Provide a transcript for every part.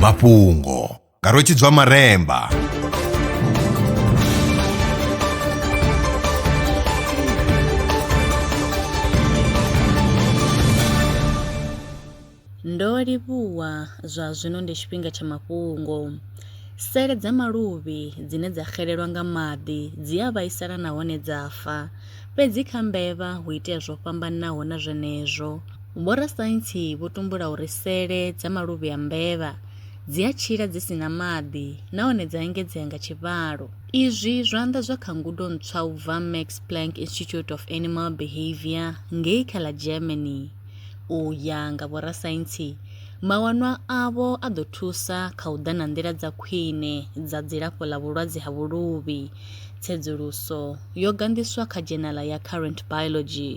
mafhungo nga rwetshidzwa maremba ndo livhuwa zwa zwino ndi tshifhinga tsha mafhungo sele dza maluvhi dzine dza xelelwa nga maḓi dzi a vhaisala nahone dza fa fhedzi kha mbevha hu itea zwo fhambanaho na zwenezwo Vhorasaintsi vho tumbula uri sele dza maluvhi a mbevha dzi a tshila dzi si na maḓi nahone dza engedzea nga tshivhalo. Izwi zwo anḓadzwa kha ngudo ntswa u bva Max Planck Institute of Animal Behavior ngei kha ḽa Germany. U ya nga vhorasaintsi, mawanwa avho a ḓo thusa kha u ḓa na nḓila dza khwine dza dzilafho ḽa vhulwadze ha vhuluvhi. Tsedzuluso yo ganḓiswa kha dzhenala ya Current Biology.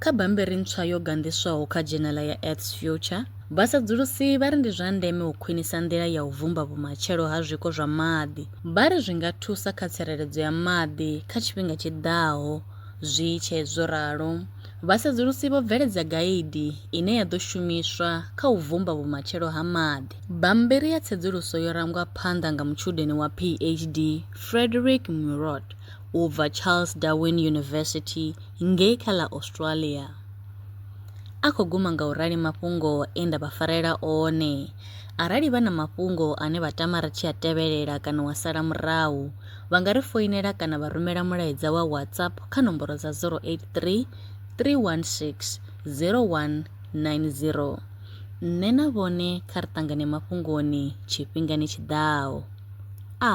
Kha bammbiri ntswa yo ganḓiswaho kha dzhenela ya Earth's Future, vhasedzulusi vha ri ndi zwa ndeme u khwinisa nḓila ya u vhumba vhumatshelo ha zwiko zwa maḓi. Vha ri zwi nga thusa kha tsireledzo ya maḓi kha tshifhinga tshi ḓaho. Zwi tshee zwo ralo, vhasedzulusi vho bveledza gaidi ine ya ḓo shumiswa kha u vhumba vhumatshelo ha maḓi. Bammbiri ya tsedzuluso yo rangwa phanḓa nga mutshudeni wa PHD Frederick Murot u bva Charles Darwin University, ngei kha ḽa Australia. A khou guma nga u rali mafhungo e nda vha farela one. Arali vha na mafhungo ane vha tama ri tshi a tevhelela kana wa sala murahu, vha nga ri foinela kana vha rumela mulaedza wa WhatsApp kha nomboro dza 083 316 0190. Nṋe na vhone kha ri ṱangane mafhungoni tshifhingani tshi ḓaho. A.